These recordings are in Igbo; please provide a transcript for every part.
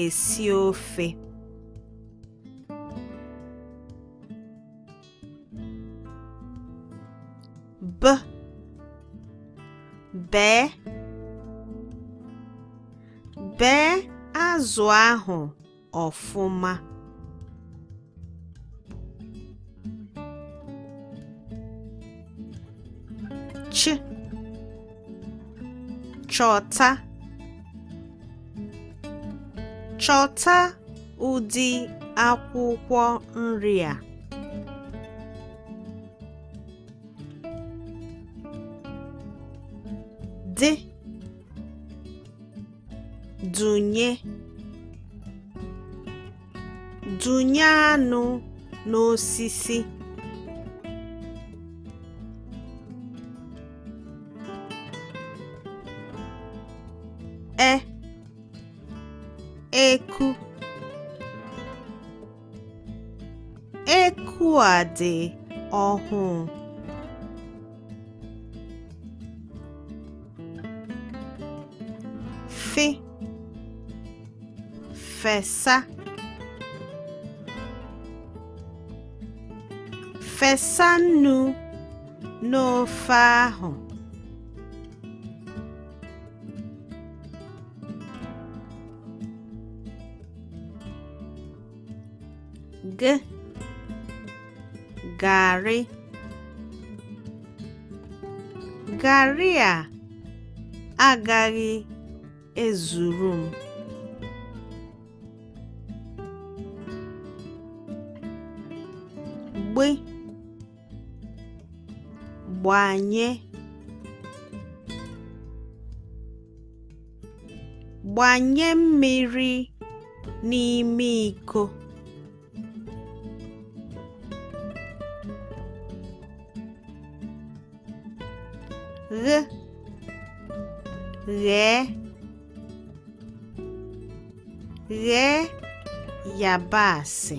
esi ofe. B bee bee azụ ahụ ọfụma. Ch chọta chọta ụdị akwụkwọ nri a dị dụnye dụnye anụ n'osisi e eku Eku a dị ọhụụ. Fị fesa fesa nnu n'ofe ahụ. G garị garị a agaghị ezuru m. Gb gbanye Gbanye mmiri n'ime iko. Ghị, ghee, ghee yabasị.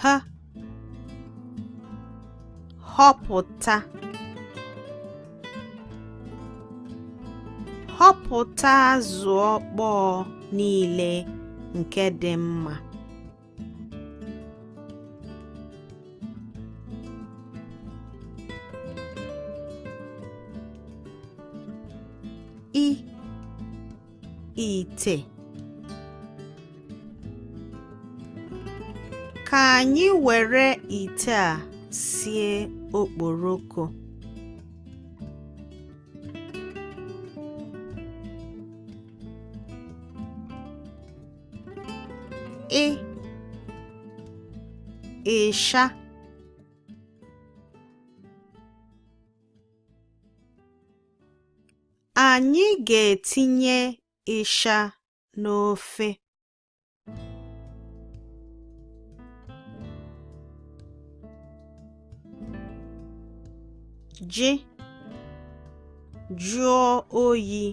H họpụta họpụta azụ ọkpọọ niile nke dị mma ite ka anyị were ite a sie okporoko ị ịsha Anyị ga-etinye ịsha n'ofe. J jụọ oyi.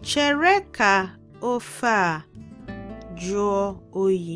Chere ka ofe a jụọ oyi.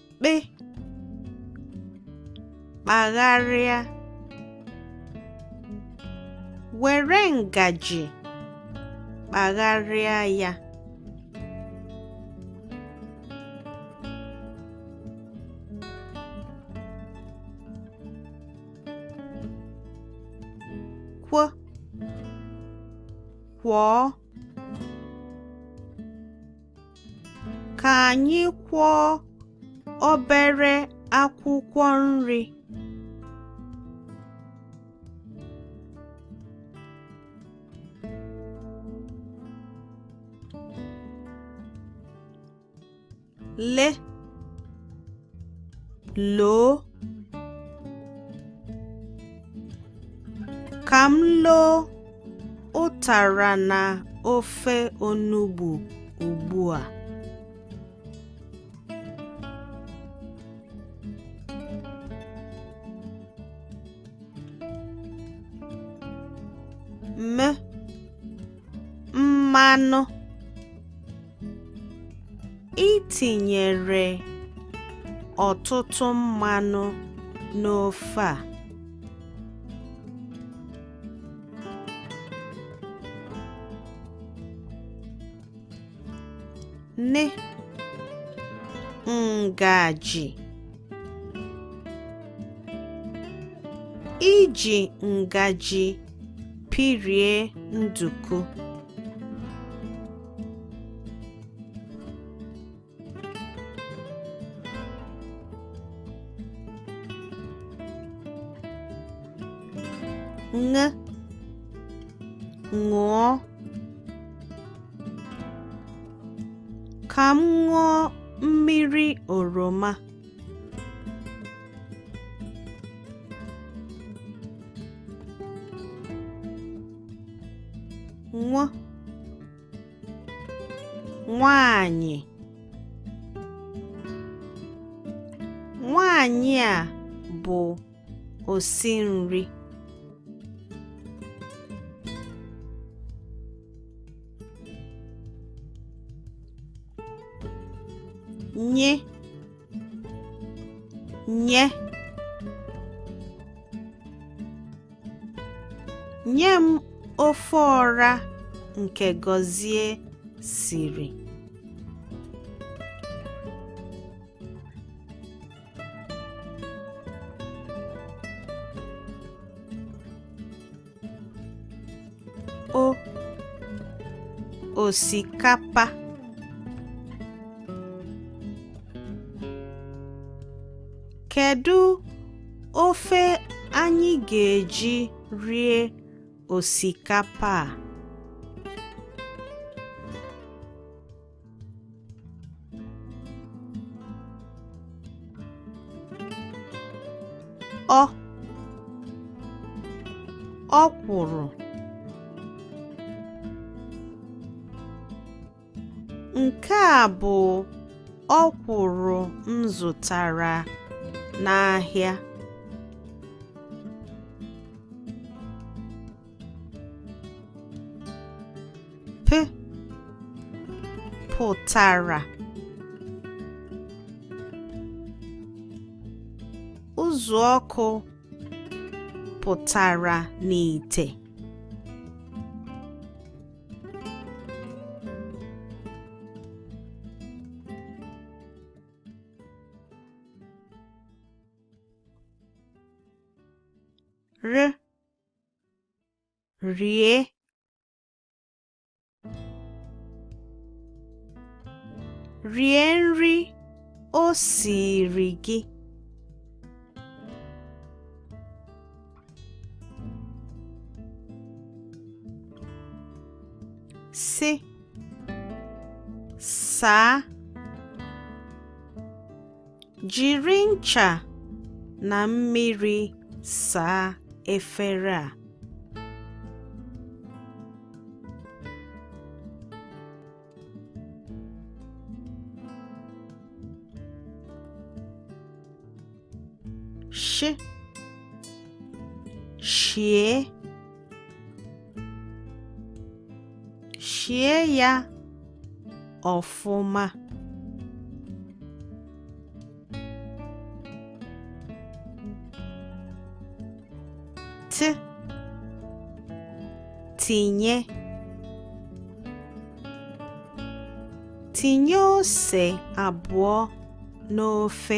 kpị kpagharịa were ngaji kpagharịa ya kw kwọọ Ka anyị kwọọ obere akwụkwọ nri. Le loo ka m loo ụtara na ofe onugbu ugbu a. M mmanụ i tinyere ọtụtụ mmanụ n'ofe a. nne ngaji iji ngaji pirie nduku ṅ ṅụọ ka m ṅụọ mmiri oroma nwanyị nwanyị a bụ osi nri ny nye Nye m ofe ọra nke Gọzie siri. O osikapa Kedu ofe anyị ga-eji rie osikapa a? Ọ ọkwụrụ. Nke a bụ ọkwụrụ m zụtara n'ahịa. P pụtara uzu ọkụ pụtara n'ite. r rie rie nri o siiri gị s saa jiri ncha na mmiri saa efere a Shị Shie Shie ya ọfụma Tị Tinye Tinye ose abụọ n'ofe.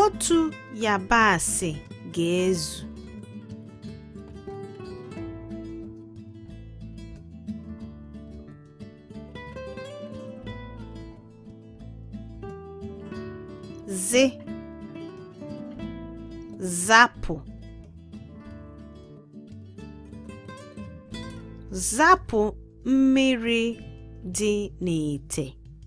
Otu yabasị ga-ezu. zị zapụ zapụ mmiri dị n'ite